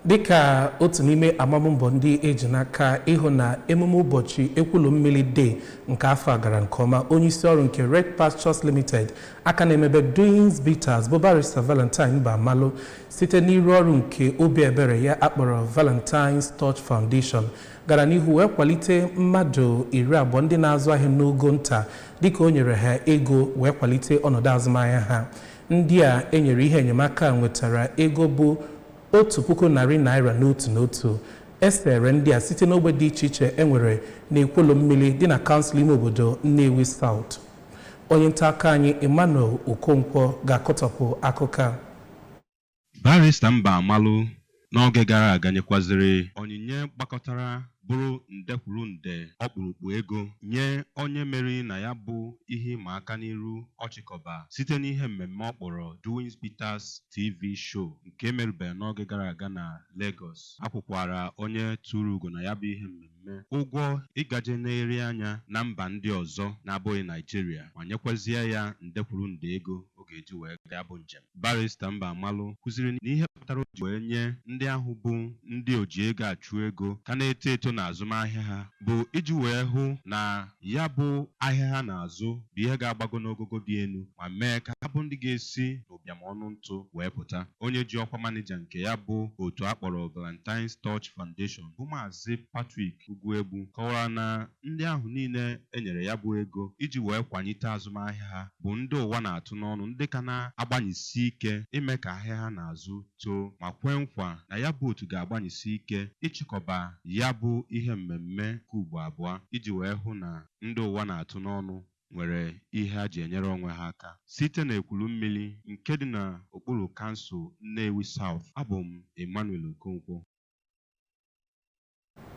dịka otu n'ime amammbọ ndị e ji n'aka ịhụ na emume ụbọchị Ekwulumili Day nke afọ a gara nke ọma onye isi ọrụ nke Red Pastures Limited aka na-emebe Doings Bitters bụ Barịsta Valentine Mbamalu site n'iru ọrụ nke obi ebere ya akpọrọ Valentine's Touch Foundation gara n'ihu wee kwalite mmadụ iri abụọ ndị na-azụ ahịa n'ogo nta dịka o nyere ha ego wee kwalite ọnọdụ azụmahịa ha Ndị a e nyere ihe enyemaka a nwetara ego bụ otu puku narị naira n'otu n'otu. E sere ndị a site n'ogbe dị iche iche e nwere n'Ekwulumili dị na kansụl ime obodo Nnewi South. Onye ntaakụkọ anyị Emmanuel Okonkwo ga-akọtọpụ akụkọ a. Barịsta Mbamalu n'oge gara aga nyekwazịrị onyinye gbakọtara bụrụ nde kwuru nde ọkpụrụkpụ ego nye onye meriri na ya bụ ihe ịma aka n'iru ọ chịkọba site n'ihe mmemme ọ kpọrọ Doings Bitters TV Show nke e merubere n'oge gara aga na Legọs. A kwụkwaara onye turu ugo na ya bụ ihe mmemme ụgwọ ịgaje nerie anya na mba ndị ọzọ na-abụghị Naịjirịa ma nyekwazie ya nde kwuru nde ego o ga-eji wee gaa ya bụ njem. Barrister Mbamalu kwuziri na ihe kpatara o ji wee nye ndị ahụ bụ ndị oji ego achụ ego ka na-eto eto n'azụmahịa ha bụ iji wee hụ na ya bụ ahịa ha na-azụ bụ ihe ga-agbago n'ogogo dị elu ma mee ka ha bụ ndị ga-esi n'ụbịam ọnụ ntụ wee pụta. Onye ji ọkwa manịja nke ya bụ otu a kpọrọ Valentine's Touch Foundation bụ Maazị Patrick Ugwuegbu kọwara na Ndị ahụ niile e nyere ya bụ ego iji wee kwanyite azụmahịa ha bụ ndị ụwa na-atụ n'ọnụ ndị ka na-agbanyesi ike ime ka ahịa ha na-azụ too ma kwee nkwa na ya bụ otu ga-agbanyesi ike ịchịkọba ya bụ ihe mmemme nke ugbo abụọ iji wee hụ na ndị ụwa na-atụ n'ọnụ nwere ihe ha ji enyere onwe ha aka. Site n'Ekwulumili nke dị n'okpuru kansụl Nnewi South, abụ m Emmanuel Okonkwo.